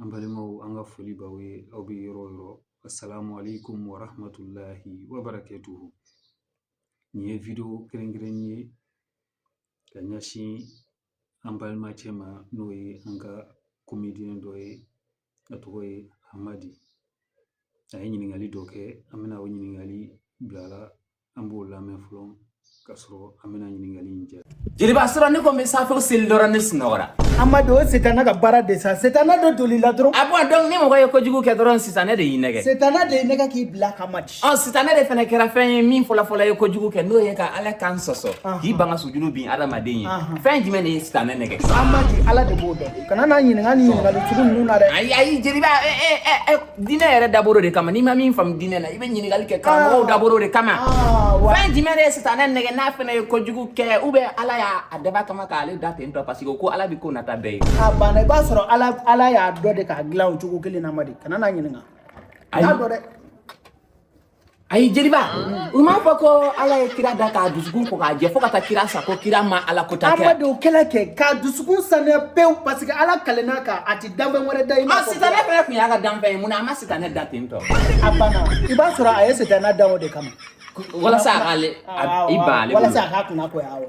an balimaw an ka foli b'aw ye aw bɛ yɔrɔ o yɔrɔ asalamu alekum warahamatulahi wabarakatuhu nin ye wideyo kɛrɛnkɛrɛn ye ka ɲɛsin an balima cɛ ma n'o ye an ka komediyɛn dɔ ye a tɔgɔ ye hamadi a ye ɲininkali dɔ kɛ an bɛna o ɲininkali bila an b'o lamɛn fɔlɔ ka sɔrɔ an bɛna ɲininkali in jaabi jeliba surɔ ne ko n bɛ safo seli dɔrɔn ne sunɔgɔra amadi o setana ka baara de sa setana dɔ doli la dɔrɔn a bɔn donc ni mɔgɔ ye kojugu kɛ dɔrɔn sitanɛ de y'i nɛgɛ setana de y'i nɛgɛ k'i bila hamadi ɔ sitanɛ de fana kɛra fɛn ye min fɔlɔfɔlɔ ye kojugu kɛ n'o ye ka ala kan sɔsɔ k'i ban ka sujudu bin adamaden ye fɛn jumɛn de ye sitanɛ nɛgɛ amadi ala de b'o dɔn kana n'a ɲininka ni ɲininkali sugu ninnu na dɛ ayi ayi jeliba diinɛ yɛrɛ dabɔra o de kama n'i ma min faamu diinɛ na i bɛ ɲininkali kɛ karamɔgɔw ah. dabɔra o de kama ah, fɛn jumɛn de ye sitanɛ nɛgɛ n'a fana ye kojugu kɛ ou bien ala y'a dabɔ a kama k'ale da ten tɔ parce que ko ala bɛ ko nata bɛɛ ye a banna i b'a sɔrɔ ala y'a dɔn de k'a dilan o cogo kelen na amadi kana n'a ɲininka a y'a dɔn dɛ ayi jeliba ah. u m'a fɔ ko ala ye kira da k'a dusukun ko k'a jɛ fo ka taa kira sa ko kira ma ala kota kɛ amadi o kɛla kɛ k'a dusukun sanuya pewu parce que ala kalenna a kan a ti danfɛn wɛrɛ da i ma ah, sitanɛ fɛnɛ tun y'a ka danfɛn ye mun na a ma sitanɛ da ten tɔ a banna i b'a sɔrɔ a ye sitanɛ dan o de kama walasa a k'ale i ban ale walasa a k'a kunna goya awɔ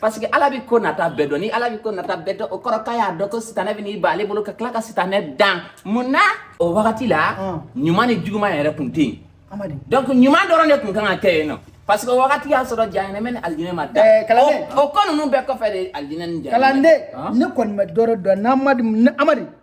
parce que ala bi ko nata bɛɛ dɔn ni ala bi ko nata bɛɛ dɔn o kɔrɔ k'a y'a dɔn ko sitanɛ bɛn'i ban ale bolo ka tila ka sitanɛ dan mun na o wagati la ɲuman ni juguman yɛrɛ tun tɛ yen donc ɲuman dɔrɔn de tun kan ka kɛ yen nɔ parce que o wagati y'a sɔrɔ jahanɛmɛ ni alijinɛ ma da o ko ninnu bɛɛ kɔfɛ de alijinɛ ni jahanɛmɛ kalanden ne kɔni ma dɔrɔ dɔn n'amadi amadi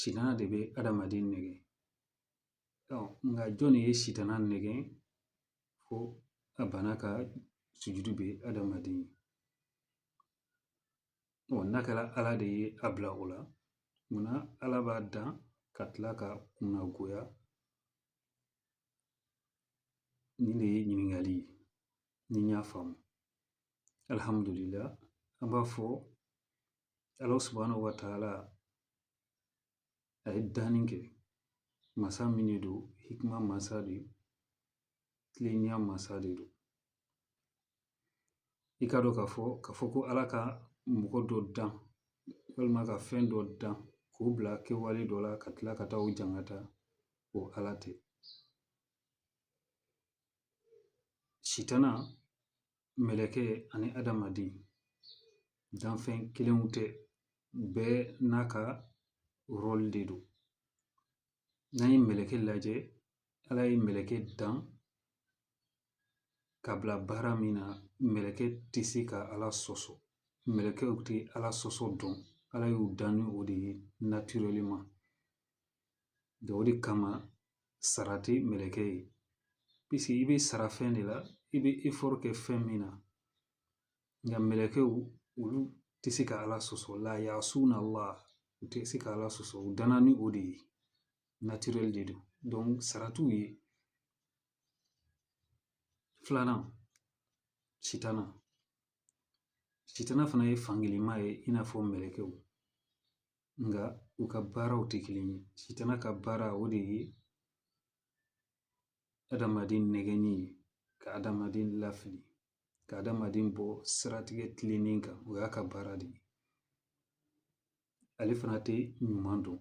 sitana de bɛ adamaden nɛgɛ nka jɔnni ye sitana nɛgɛn fo a banna ka sujudu bin adamaden n'a kɛra ala de ye a bila o la munna ala b'a dan ka tila k'a kunna goya nin de ye ɲininkali ye ni n y'a faamu alihamudulilahi an b'a fɔ Ala subahanahu wa taala a ye danni kɛ masa min de don hikma masa de don tilenya masa de don i k'a dɔn k'a fɔ k'a fɔ ko ala ka mɔgɔ dɔ dan walima ka fɛn dɔ dan k'o bila kɛwale dɔ la ka tila ka taa o jangata o ala tɛ sitana mɛlɛkɛ ani adamaden danfɛn kelenw tɛ bɛɛ n'a ka rɔli de don n'an ye mɛlɛkɛ lajɛ ala ye mɛlɛkɛ dan ka bila baara min na mɛlɛkɛ tɛ se ka ala sɔsɔ mɛlɛkɛw tɛ ala sɔsɔ dɔn ala y'u dan ni o de ye naturellement o de kama sara tɛ mɛlɛkɛ ye piseke i bɛ sara fɛn de la i bɛ effort kɛ fɛn min na nka mɛlɛkɛw olu tɛ se ka ala sɔsɔ la yasuna ala u tɛ se ka ala sɔsɔ u danna ni o de ye naturel de don donc sara t'u ye filanan sitana sitana fana ye fankelen ma ye i n'a fɔ mɛlɛkɛw Nka u ka baaraw tɛ kelen ye sitana ka baara o de ye adamaden nɛgɛnni ye ka adamaden lafili ka adamaden bɔ siratigɛ tilennen kan o y'a ka baara de ye ale fana tɛ ɲuman dɔn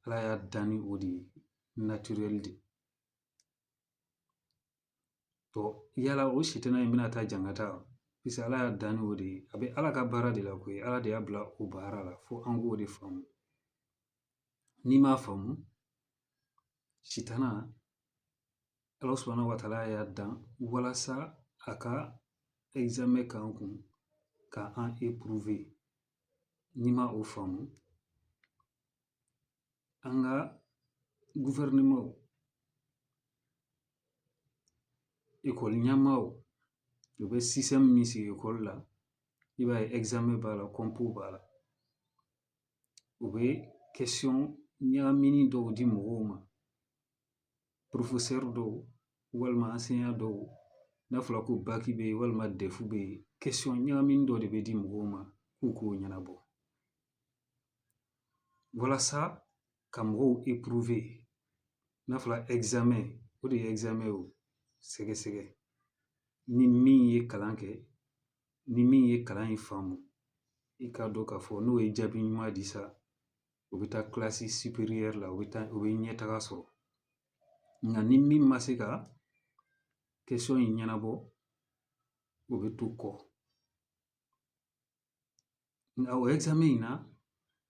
ala y'a dan ni o de ye naturel de yala o sitana in bɛna taa jankata wa piseke Ala y'a dan n'o de ye a bɛ Ala ka baara de la koyi Ala de y'a bila o baara la fo an k'o de faamu n'i m'a faamu sitana Ala subahana wataala y'a dan walasa a ka ɛkizamɛn k'an kun ka an éprouver n'i ma o faamu an ka gufɛrɛnamanw ekɔli ɲɛmaaw u bɛ système min sigi ekɔli la i b'a ye ɛkizamɛn b'a la compo b'a la u bɛ question ɲagaminen dɔw di mɔgɔw ma professeur dɔw walima enseignant dɔw n'a fɔra ko baki bɛ yen walima dɛfu bɛ yen question ɲagaminen dɔ de bɛ di mɔgɔw ma k'u k'o ɲɛnabɔ walasa ka mɔgɔw éprouver n'a fɔra ɛkizamɛn o de ye ɛkizamɛn o sɛgɛsɛgɛ ni min ye kalan kɛ ni min ye kalan in faamu i k'a dɔn k'a fɔ n'o ye jaabi ɲuman di sa o bɛ taa classe supérieure la o bɛ ɲɛtaga sɔrɔ nka ni min ma se ka question in ɲɛnabɔ o bɛ to kɔ Nka o ɛkizamɛn in na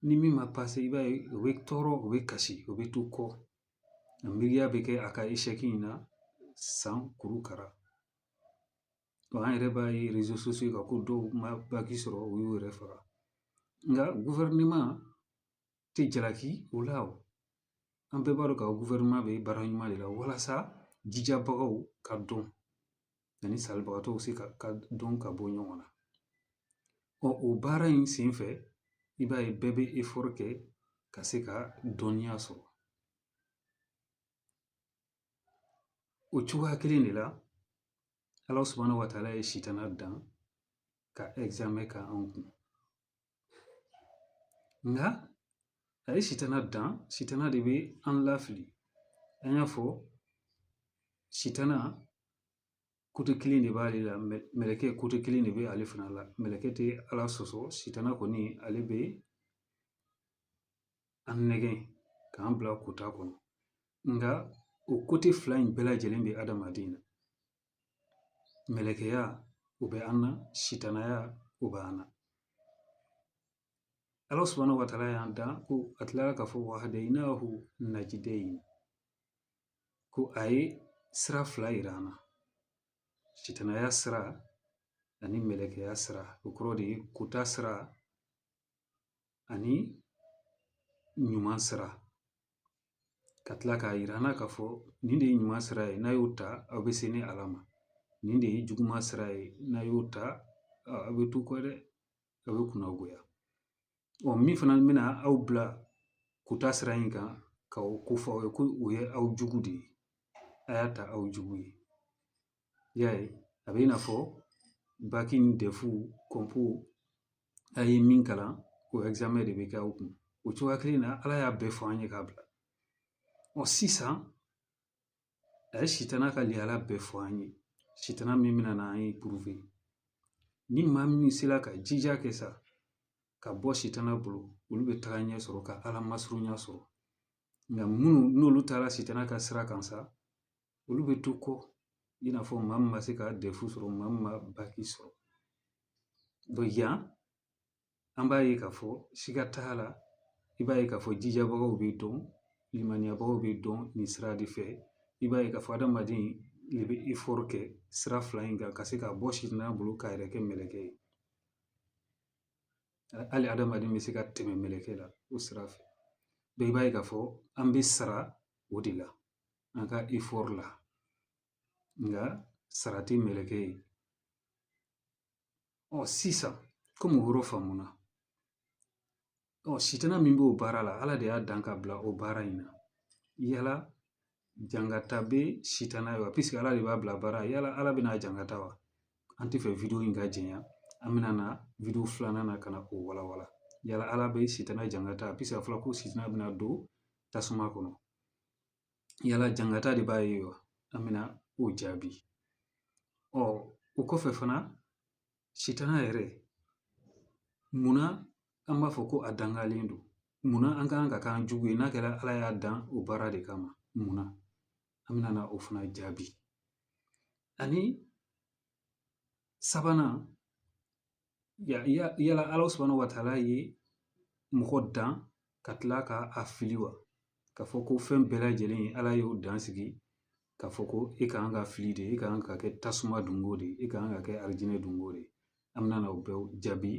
ni min ma pase i b'a ye o bɛ tɔɔrɔ o bɛ kasi o bɛ to kɔ a miiriya bɛ kɛ a ka échec in na san kuru kara wa an yɛrɛ b'a ye réseaux sociaux kan ko dɔw ma baki sɔrɔ u y'u yɛrɛ faga nka tɛ jalaki o la o an bɛɛ b'a dɔn k'a fɔ guvɛrɛnɛman bɛ baara ɲuman de la walasa jijabagaw ka dɔn ani salibagatɔw se ka dɔn ka bɔ ɲɔgɔn na ɔ o baara in senfɛ i b'a ye bɛɛ bɛ efɔri kɛ ka se ka dɔnniya sɔrɔ o cogoya kelen de la ala subahana wataala ye sitana dan ka ɛgizamɛn kɛ anw kun nka a ye sitana dan sitana de bɛ an lafili an y'a fɔ sitana kote kelen de b'ale la mɛlɛkɛ kote kelen de bɛ ale fana la mɛlɛkɛ tɛ ala sɔsɔ sitana kɔni ale bɛ an nɛgɛn k'an bila kota kɔnɔ nka o kote fila in bɛɛ lajɛlen bɛ adamaden na mɛlɛkɛya o bɛ an na sitanaya o bɛ an na ala subahana wataala y'an dan ko a tilara k'a fɔ wahadayinahu najidayi ko a ye sira fila yira an na sitanaya sira ani mɛlɛkɛya sira o kɔrɔ de ye kota sira ani ɲuman sira ka tila k'a yira an na k'a fɔ nin de ye ɲuman sira ye n'a y'o ta aw bɛ se ne ala ma nin de ye juguman sira ye n'a y'o ta aw bɛ to kɔ dɛ aw bɛ kunnagoya ɔ min fana bɛna aw bila kota sira in kan ka o ko fɔ aw ye ko o ye aw jugu de ye a y'a ta aw jugu ye I y'a ye a bɛ i n'a fɔ baki ni dɛfu kɔnpo a ye min kalan o ɛgizamɛn de bɛ kɛ aw kun o cogoya kelen na ala y'a bɛɛ fɔ an ye k'a bila ɔ sisan a ye sitana ka lihala bɛɛ fɔ an ye sitana min bɛna na an epuruve ni maa min sera ka jija kɛ sa ka bɔ sitana bolo olu bɛ tagaɲɛ sɔrɔ ka ala masurunya sɔrɔ nka minnu n'olu taara sitana ka sira kan sa olu bɛ to kɔ i n'a fɔ maa min ma se ka dɛfu sɔrɔ maa min ma baki sɔrɔ yan an b'a ye k'a fɔ siga t'a la i b'a ye k'a fɔ jijabagaw bɛ dɔn limaniyabagaw bɛ dɔn nin sira de fɛ i b'a ye k'a fɔ adamaden de bɛ efɔri kɛ sira fila in kan ka se ka bɔ sitana bolo k'a yɛrɛ kɛ mɛlɛkɛ ye hali adamaden bɛ se ka tɛmɛ mɛlɛkɛ la o sira fɛ i b'a ye k'a fɔ an bɛ sara o de la an ka efɔri la nka sara tɛ mɛlɛkɛ ye ɔ sisan komi o yɔrɔ faamuna ɔ sitana min b'o baara la ala de y'a dan k'a bila o baara in na yala jangata bɛ sitana ye wa pisike ala de b'a bila baara yala ala bɛn'a jangata wa an t'a fɛ wideyo in ka janya an bɛna na wideyo filanan na ka na o walawala yala ala bɛ sitana jangata pisike a fɔra ko sitana bɛna don tasuma kɔnɔ yala jangata de b'a ye wa an bɛna o jaabi ɔ o kɔfɛ fana sitana yɛrɛ munna an b'a fɔ ko a dangalen don munna an ka kan k'a k'an jugu ye n'a kɛra ala y'a dan o baara de kama munna an bɛna o fana jaabi ani sabanan yala ala subhanahu wa taala ye mɔgɔ dan ka tila ka a fili wa ka fɔ ko fɛn bɛɛ lajɛlen ala y'o dan sigi ka fɔ ko e ka kan ka fili de e ka kan ka kɛ tasuma donko de e ka kan ka kɛ alijinɛ donko de an bɛna o bɛɛ jaabi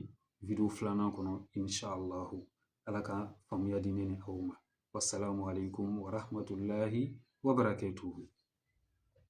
wideyo filanan kɔnɔ insalahu ala ka faamuya di ne ni aw ma wasalamu aleykum warahmatulahi wabarakatuhu